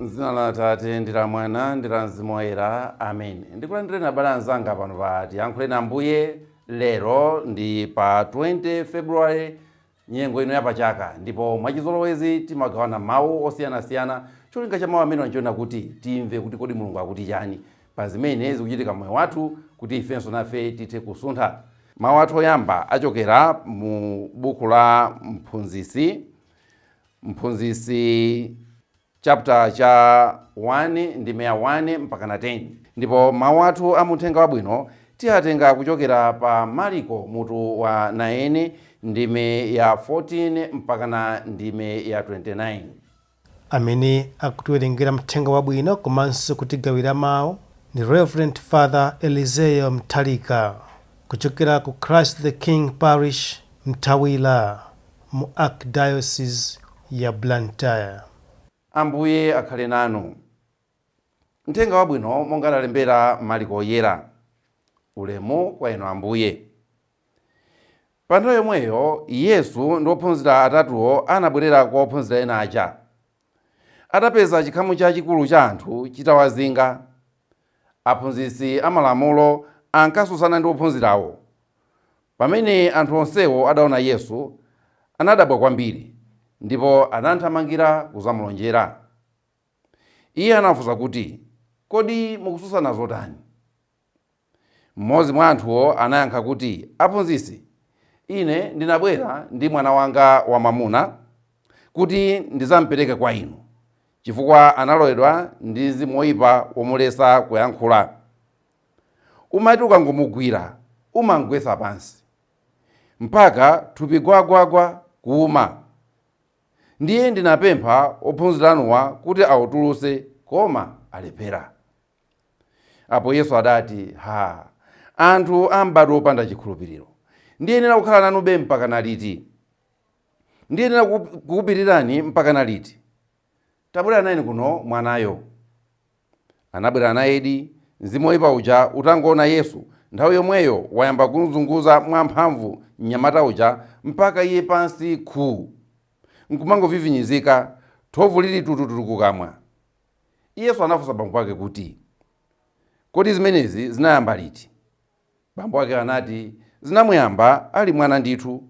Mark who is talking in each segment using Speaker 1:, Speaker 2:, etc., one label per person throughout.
Speaker 1: M'dzina la Atate, ndi la Mwana, ndi la Mzimu Woyera. Amen. Ndikulandireni abale anzanga pano pa Tiyankhuleni Ambuye lero ndi pa 20 February nyengo ino yapachaka ndipo mwachizolowezi timagawana mawu osiyanasiyana cholinga cha mawu amene n'choona kuti timve kuti kodi mulungu akuti chani pa zimene zikuchitika moyo wathu kuti ifenso nafe tithe kusuntha mawu athu oyamba achokera mu buku la Mphunzitsi Mphunzitsi chapter cha 1 ndime ya 1 mpakana 10 ndipo mawu athu a mumthenga wabwino tiyatenga kuchokera pa Maliko mutu wa 9 ndime ya 14 mpakana ndime ya 29.
Speaker 2: Amene akutiwerengera mthenga wabwino komanso kutigawira mawu ndi Reverend Father Elizeo Nthalika kuchokera ku Christ the King Parish, Mtawira, mu Archdiocese ya Blantyre. Ambuye
Speaker 1: akhale nanu. Mthenga Wabwino monga analembera Maliko Woyera. Ulemu kwa Inu Ambuye. Pa nthawi yomweyo Yesu ndi ophunzira atatuwo anabwerera kwa ophunzira ena aja. Atapeza chikhamu chachikulu cha anthu chitawazinga, aphunzitsi amalamulo ankatsutsana ndi ophunzirawo. Pamene anthu onsewo adaona Yesu, anadabwa kwambiri, ndipo anamthamangira kudzamlonjera. Iye anawafunsa kuti, Kodi mukutsutsana zotani? Mmodzi mwa anthuwo anayankha kuti, Aphunzitsi, ine ndinabwera ndi mwana wanga wamwamuna kuti ndidzam'pereke kwa inu, chifukwa analowedwa ndi mzimu woipa womuletsa kuyankhula. Umati ukangomugwira, umam'gwetsa pansi mpaka thupi gwagwagwa, kuuma. Ndiye ndinapempha ophunzira anuwa kuti autulutse, koma alephera. Apo Yesu adati, Ha! Anthu a mbadwo wopanda chikhulupiriro! Ndiyenera kukhala nanube mpakana liti? Ndiyenera kukup- kukupirirani mpakana liti? Tabwera nayeni kuno mwanayo. Anabwera nayedi, mzimu woyipa uja utangoona Yesu, nthawi yomweyo wayamba kumzunguza mwamphamvu mnyamata uja mpaka iye pansi khu! Nkumangovivinyizika, thovu lili tutututu kukamwa. Yesu anafunsa bambo wake kuti, Kodi zimenezi zinayamba liti? Bambo wake anati, Zinamuyamba ali mwana ndithu.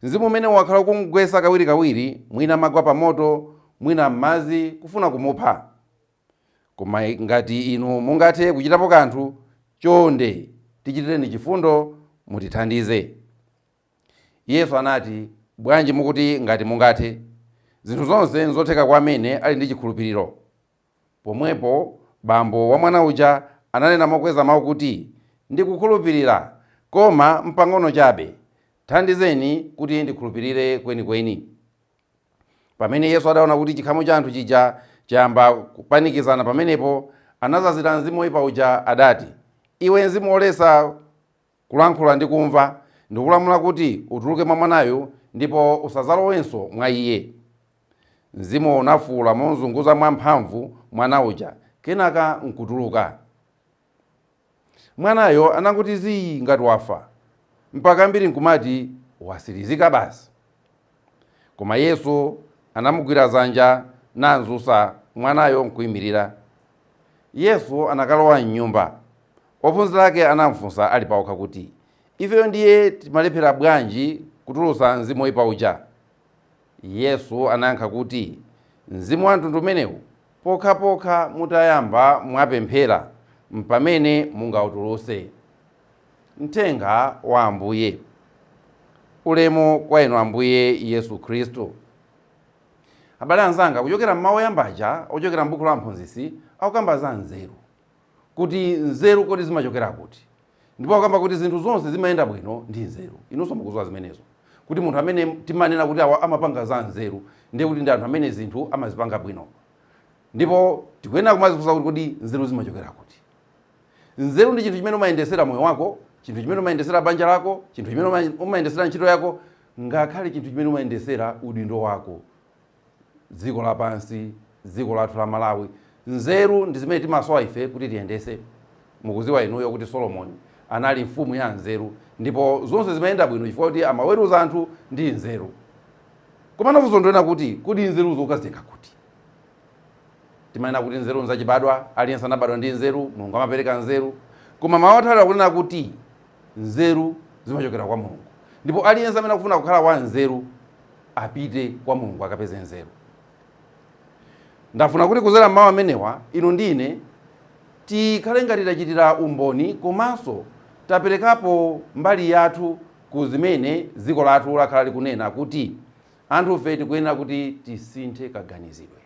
Speaker 1: Mzimu umenewu wakhala ukumugwetsa kawirikawiri, mwina amagwa pamoto, mwina m'madzi, kufuna kumupha. Koma ngati inu mungathe kuchitapo kanthu, chonde tichitireni chifundo, mutithandize. Yesu anati, Bwanji mukuti, Ngati mungathe? Zinthu zonse nzotheka kwa amene ali ndi chikhulupiriro. Pomwepo bambo wa mwana uja ananena mokweza mawu kuti, Ndikukhulupirira, koma mpang'ono chabe. Thandizeni kuti ndikhulupirire kwenikweni. Pamene Yesu adaona kuti chikhamu cha anthu chija chayamba kupanikizana pamenepo, anazazira mzimu woipa uja, adati, Iwe mzimu woletsa, Kulankhula ndi kumva. Ndikulamula kuti utuluke mwa mwanayu ndipo usadzalowenso mwa iye. Mzimuwo unafuula momzunguza mwamphamvu mwana uja kenaka nkutuluka. Mwanayo anangoti zii ngati wafa mpaka ambiri nkumati watsirizika basi. Koma Yesu anamugwira dzanja nam'dzutsa mwanayo n'kuimirira. Yesu anakalowa m'nyumba. Ophunzira ake anam'funsa ali paokha kuti, Ifeyo ndiye timalephera bwanji kutulutsa mzimu woipa uja? Yesu anayankha kuti, Mzimu wa mtundu umenewu, pokhapokha mutayamba mwapemphera, m'pamene mungautulutse. Mthenga wa Ambuye. Ulemu kwa Inu Ambuye Yesu Khristu. Abale anzanga, kuchokera m'mawu oyamba aja ochokera m'buku la Mphunzitsi, akukamba za nzeru, kuti nzeru kodi zimachokera kuti, ndipo akukamba kuti zinthu zonse zimayenda bwino ndi nzeru. Inunso mukudziwa zimenezo, kuti munthu amene timanena kuti awa amapanga za nzeru, ndiye kuti ndi anthu amene zinthu amazipanga bwino. Ndipo tikuyenera kumadzifunsa kuti kodi nzeru zimachokera kuti? Nzeru ndi chinthu chimene umayendetsera moyo wako, chinthu chimene umayendetsera banja lako, chinthu chimene umayendetsera ntchito yako, ngakhale chinthu chimene umayendetsera udindo wako. Dziko lapansi, dziko lathu la Malawi, nzeru ndi zimene timasowa ife kuti tiyendetse. Mukudziwa inuyo kuti Solomoni anali mfumu ya nzeru, ndipo zonse zimayenda bwino chifukwa kuti amaweruza anthu ndi nzeru. Komano funso ndi lonena kuti kodi nzeruzo ukazitenga kuti? Timanena kuti nzeru nzachibadwa, aliyense anabadwa ndi nzeru, Mulungu amapereka nzeru. Koma mawu athu a lero akunena kuti nzeru zimachokera kwa Mulungu, ndipo aliyense amene akufuna kukhala wanzeru apite kwa Mulungu akapeze nzeru. Ndafuna kuti kudzera m'mawu amenewa, inu ndi ine tikhale ngati tachitira umboni komanso taperekapo mbali yathu ku zimene dziko lathu lakhala likunena kuti Anthufe tikuyenera kuti tisinthe kaganizidwe.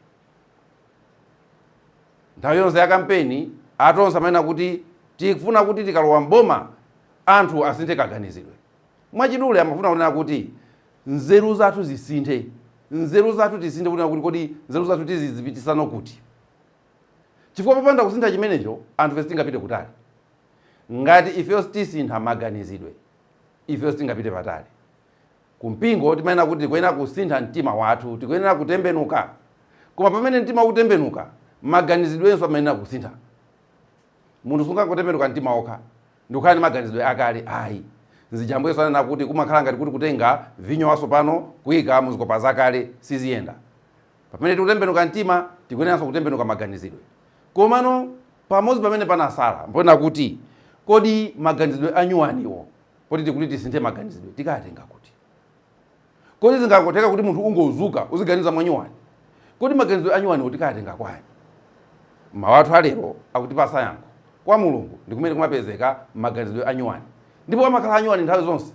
Speaker 1: Nthawi yonse ya kampeni, a Tonse amanena kuti tikufuna kuti tikalowa m'boma, anthu asinthe kaganizidwe. Mwachidule amafuna kunena kuti nzeru zathu zisinthe. Nzeru zathu tisinthe kunena kuti kodi nzeru zathu tizizipititsano kuti? Chifukwa popanda kusintha chimenecho, anthufe sitingapite kutali. Ngati ifeyo sitisintha maganizidwe, ifeyo sitingapite patali. Ku mpingo timanena kuti tikuyenera kusintha mtima wathu, tikuyenera kutembenuka. Koma pamene mtima ukutembenuka, maganizidwenso amayenera kusintha. Munthu sungangotembenuka mtima wokha ndikukhala ndi maganizidwe akale ayi. Nzija Ambuye Yesu ananena kuti kumakhala ngati kuti kutenga vinyo watsopano kuika mu zikopa zakale, siziyenda. Pamene tikutembenuka mtima, tikuyeneranso kutembenuka maganizidwe. Komano pamodzi pamene panatsala mponena kuti kodi maganizidwe anyuwaniwo Kodi tikuti tisinthe maganizidwe tikatenga kuti? Kodi zingangotheka kuti munthu ungodzuka uziganiza mwanyuwani? Kodi maganizidwe anyuwaniwo tikatenga kwani? Mau athu a lero akutipatsa yankho. Kwa Mulungu ndi kumene kumapezeka maganizidwe anyuwani. Ndipo amakhala anyuwani nthawi zonse.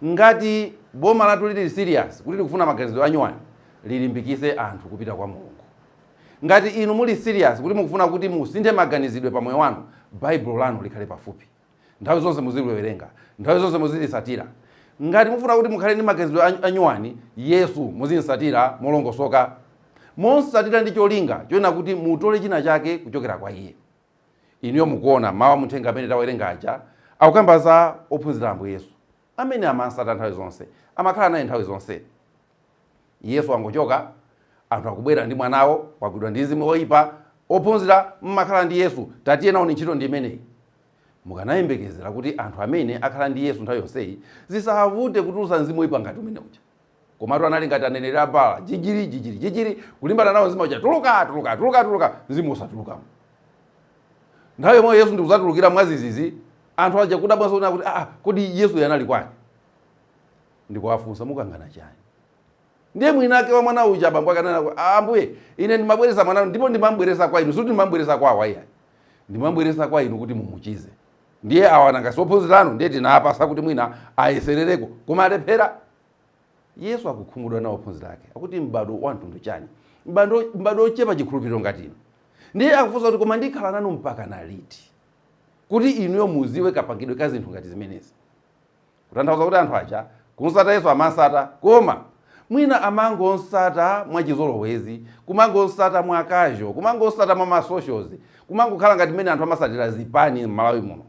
Speaker 1: Ngati boma lathu lili serious kuti likufuna maganizidwe anyuwani, lilimbikitse anthu kupita kwa Mulungu. Ngati inu muli serious kuti mukufuna kuti musinthe maganizidwe pa moyo wanu, Baibulo lanu likhale pafupi. Nthawi zonse muziliwerenga, nthawi zonse muzilitsatira. Ngati mufuna kuti mukhale ndi maganizidwe anyuwani, Yesu, muzim'tsatira molongosoka. Mum'tsatira ndi cholinga chonena kuti mutole china chake kuchokera kwa iye. Inuyo mukuona, mawu a mu uthenga amene tawerenga aja akukamba za ophunzira a Ambuye Yesu. Amene amam'tsata nthawi zonse, amakhala naye nthawi zonse. Yesu wangochoka, anthu akubwera ndi mwanawo, wagwidwa ndi mzimu woipa, ophunzira mmakhala ndi Yesu, tatiyeni nayoni ntchito ndi imeneyi. Mukanayembekezera kuti anthu amene akhala ndi Yesu nthawi yonseyi zisavute kutulutsa mzimu woipa ngati umene uja. Komatu anali ngati aneneri a Baala, jijiri, jijiri, jijiri, kulimbana nawo mzimu uja, tuluka, tuluka, tuluka, tuluka, mzimu wosatulukamo. Nthawi yomweyo Yesu ndikudzatulukira mwadzidzidzi, anthu aja kudabwanso kunena kuti, aa, kodi Yesuyo anali kwani? ndikuwafunsa, Mukangana chani? Ndiye mwinake wa mwana uja abambo akunena, Ambuye, ine ndimabweretsa mwana ndipo ndimamubweretsa kwa inu, sikuti ndimamubweretsa kwa awa iyayi. Ndimamubweretsa kwa inu kuti mumuchize. Ndiye awa nanga si ophunzira anu, ndiye tinawapatsa kuti mwina ayeserereko, koma alephera. Yesu akukhumudwa nawo ophunzira ake, akuti m'bado wa mtundu chani? M'bado ochepa chikhulupiriro ngati inu. Ndiye akufunsa kuti, koma ndikhala nanu mpakana liti? Kuti inuyo mudziwe kapangidwe ka zinthu ngati zimenezi. Kutanthauza kuti anthu aja kumtsata Yesu amamtsata koma mwina amangomtsata mwachizolowezi, kumangomtsata mwa casual, kumangomtsata mwa ma socials, kumangokhala ngati mmene anthu amatsatira zipani m'Malawi muno.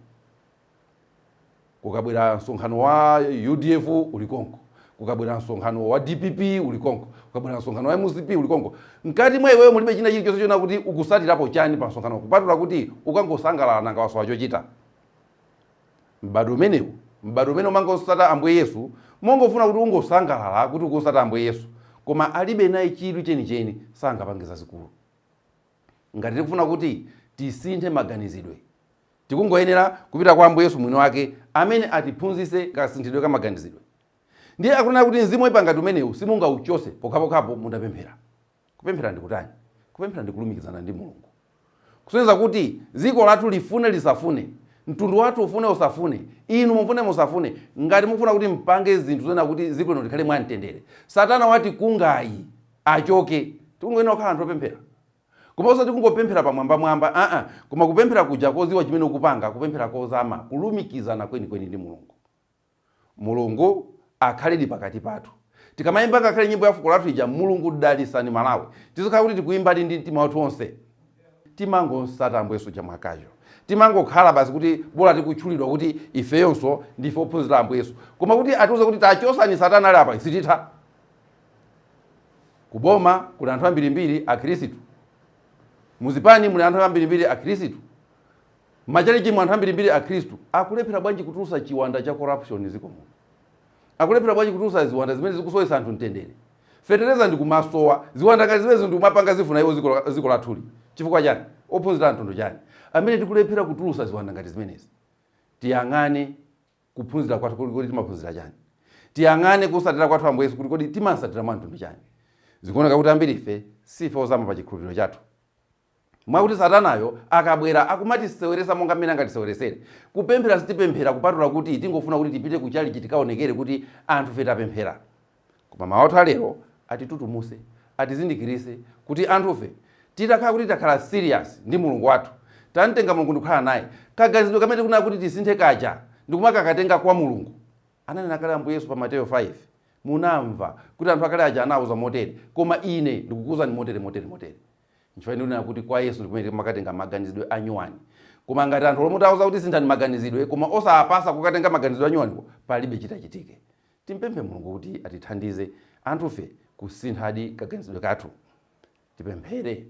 Speaker 1: Kukabwera msonkhano wa udf uli konko, kukabwera msonkhano wa dpp uli konko, kukabwera msonkhano wa mcp uli konko. Mkati mwa iweyo mulibe china chilichonse chonena kuti ukutsatirapo chani pamsonkhanowo kupatula kuti ukangosangalala nanga wasowa chochita? M'badwo umenewu, m'badwo umene umangomtsata Ambuye Yesu, mongofuna kuti ungosangalala kuti ukumutsata Ambuye Yesu, koma alibe naye chidwi chenicheni, sangapange zazikulu. Ngati tikufuna kuti tisinthe maganizidwe, tikungoyenera kupita kwa Ambuye Yesu mwini wake amene atiphunzitse kasinthidwe ka maganizidwe. Ndiye akunena kuti mzimu woipa ngati umenewu simungauchotse pokhapokhapo mutapemphera. Kupemphera ndi kutani? Kupemphera ndi kulumikizana ndi Mulungu. Kusonyeza kuti dziko lathu lifune lisafune, mtundu wathu ufune usafune, inu mufune musafune, ngati mukufuna kuti mupange zinthu zonena kuti dziko lino likhale mwa mtendere, satana watikungayu achoke. Tikungoyenera kukhala anthu opemphera. Koma osati kungopemphera pa mwambamwamba, aa, koma kupemphera kuja kodziwa chimene ukupanga, kupemphera kozama, kulumikizana kwenikweni ndi Mulungu. Mulungu akhaledi pakati pathu tikamayimba ngakhale nyimbo ya fuko lathu ija Mulungu dalitsani Malawi tizikhala kuti tikuyimbadi ndi mtima wathu onse timangomtsata ambuye yesu uja mwa casual timangokhala basi kuti bola tikutchulidwa kuti ifeyonso ndife ophunzira ambuye yesu koma kuti atiuze kuti tachotsani satana ali apa sititha kuboma kuli anthu ambirimbiri akhirisitu muzipani muli anthu ambirimbiri akhirisitu M'machalichimu anthu ambirimbiri akhristu akulephera bwanji kutulutsa chiwanda cha corruption m'dziko muno? Akulephera bwanji kutulutsa ziwanda zimene zikusowetsa anthu mtendere? Fetereza ndi kumasowa, ziwanda ngati zimenezo ndi kumapanga zifuna iwo dziko lathuli chifukwa chani? Ophunzira amtundu chani amene tikulephera kutulutsa ziwanda ngati zimenezi? Tiyang'ane kuphunzira kwathu kuti kodi timaphunzira chani? Tiyang'ane kutsatira kwathu Ambuye Yesu kuti kodi timamtsatira mwa mtundu chani? Zikuoneka kuti ambirife siife ozama pa chikhulupiriro chathu. Mwakuti satanayo akabwera akumatiseweretsa monga mmene angatiseweretsere. Kupemphera sitipemphera kupatula kuti tingofuna kuti tipite ku chalichi tikaonekere kuti anthufe tapemphera. Koma mawu athu a lero atitutumuse, atizindikiritse kuti anthufe titakhala kuti takhala serious ndi Mulungu wathu, tamtenga Mulungu ndikukhala naye, kaganizidwe kamene tikunena kuti tisinthe kaja ndikumakakatenga kwa Mulungu. Ananena kale Ambuye Yesu pa Mateyo 5, Munamva kuti anthu akale aja anauzwa motere, koma ine ndikukuuzani motere motere motere. Nchifukwa ndikunena kuti kwa Yesu ndikumene timakatenga maganizidwe anyuwani. Koma ngati anthu olo mutawauza kuti sinthani maganizidwe koma osapasa kukatenga maganizidwe anyuwaniwo palibe chitachitike. Timupemphe Mulungu kuti atithandize anthufe kusinthadi kaganizidwe kathu. Tipemphere.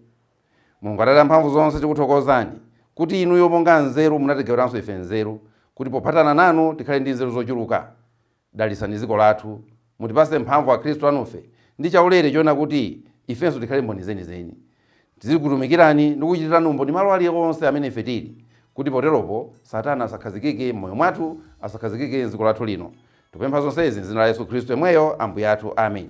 Speaker 1: Mulungu Atate amphamvu zonse tikuthokozani kuti inuyo monga nzeru munatigawiranso ife nzeru kuti pophatana nanu tikhale ndi nzeru zochuluka. Dalitsani dziko lathu. Mutipatse mphamvu akhristu anufe ndi chaulere choona kuti ifenso tikhale mboni zenizeni. Tizikutumikirani ndi kukuchitirani umboni malo ali onse amene ife tili, kuti poteropo Satana asakhazikike m'moyo mwathu, asakhazikike m'dziko lathu lino. Tikupempha zonsezi m'dzina la Yesu Khristu yemweyo Ambuye athu. Amen.